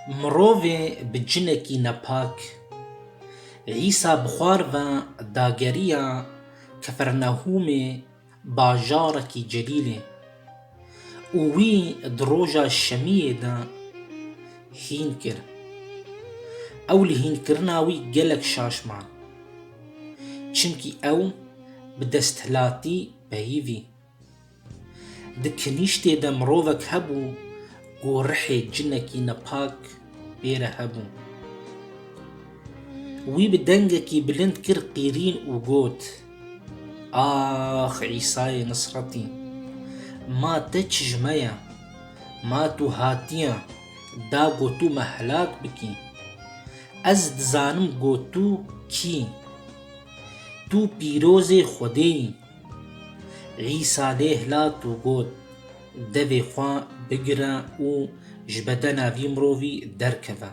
Mirovê bi cinekî nepak Îsa bi xwar ve dageriya Kefernehûmê bajarekî celîlê û wî di roja şemiyê de hîn kir. Ew li hînkirina wî gelek şaş man. Çimkî ew bi desthilatî peyivî. Di kinîştê de mirovek hebû ku rihê cinekî nepak pê re hebû. Wî bi dengekî bilind kir qîrîn û got, Ax Îsayê Nisretî! Ma te çijme ye. Ma tu hatiye da ku tu me helak bikî. Ez dizanim ku tu kî yî. Tu pîrozê Xwedê yî. Îsa lê hilat û got, Devê xwe bigire û ji bedena vî mirovî derkeve.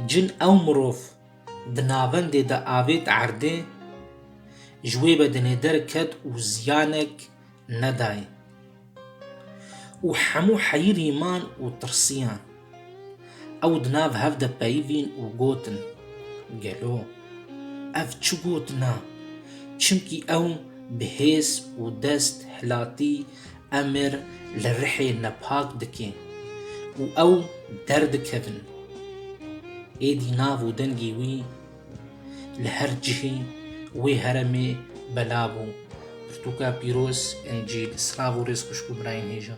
Cin ew mirov di navendê de avêt erdê, ji wê bedenê derket û ziyanek nedayê. û hemû heyirîman û tirsiyan. Ew di nav hev de peyivîn û gotin, Gelo ev çi gotina? Çimkî ew bi hêz û dest hilatî emir li rihê nepak dike û ew derdikevin. Êdî nav û dengê wî Li her cihê wê heremê bela bû. Pirtûka pîroz, Încîl. Silav û rêz xwişk û birayên hêja.